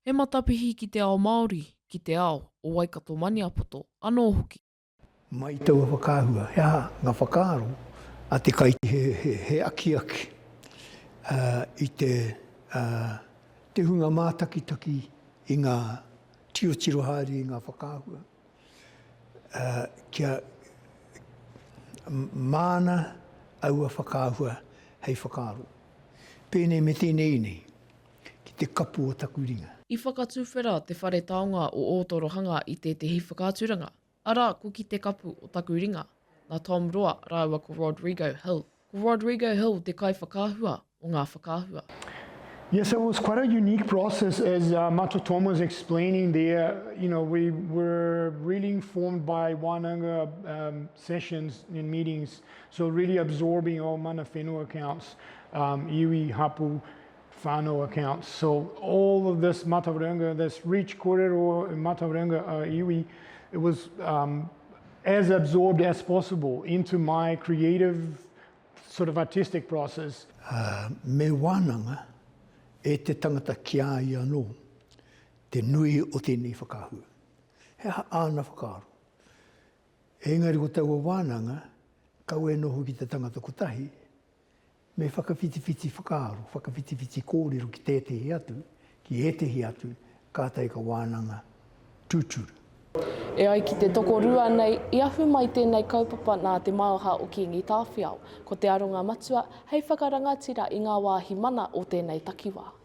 He matapihi ki te ao Māori, ki te ao o Waikato-Maniapoto anō hoki. Mai taua whakaahua, he aha ngā whakaaro a te kaitiaki? He akiaki i te hunga mātakitaki i ngā tiochiro haere i ngā whakaahua kia māna aua whakaahua hei whakaaro. Pēnei me tēnei nei. ki te kapu o taku ringa. I whakatuwhera te Whare Taonga o Ōtorohanga i tētehi whakaaturanga, arā, ko Ki te kapu o taku ringa, nā Tom Roa rāua ko Rodrigo Hill. Ko Rodrigo Hill te kaiwhakaahua o ngā whakaahua. Yes, it was quite a unique process as uh, Mato Tom was explaining there. You know, we were really informed by Wānanga um, sessions and meetings, so really absorbing all mana whenua accounts, um, iwi, hapu, whānau accounts, so all of this matauranga, this reach kōrero matauranga a iwi, it was um, as absorbed as possible into my creative sort of artistic process. Uh, me wānanga e te tangata ki a ia anō, te nui o tēnei whakahua. He aha āna whakaaro? Engari ko taua wānanga, kau e noho ki te tangata kotahi, Me whakawhitiwhiti whakaaro, whakawhitiwhiti kōrero ki tētehi atu, ki ētehi atu, kātahi ka wānanga tūturu. E ai ki te tokorua nei, i ahu mai tēnei kaupapa nā te maoha o Kīngi Tāwhiao, ko te aronga matua hei whakarangatira i ngā wāhi mana o tēnei takiwā.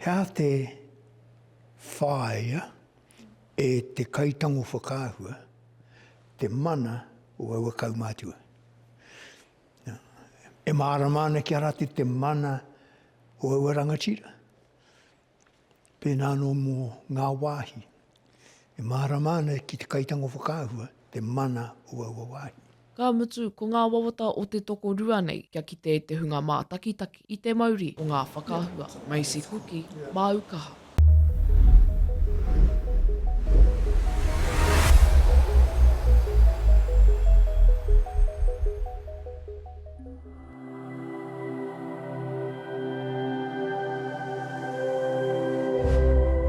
He aha te whāia e te kaitango whakaahua te mana o aua kaumātua? E mārama ana ki a rātou te mana o aua rangatira pēnā anō mō ngā wāhi. E mārama ana ki te kaitango whakaahua te mana o aua wāhi. Ka mutu, ko ngā wawata o te tokorua nei kia kite te hunga mātakitaki i te mauri o ngā whakaahua. Macy Kuki, māu kaha.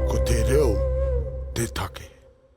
Ko te reo te take.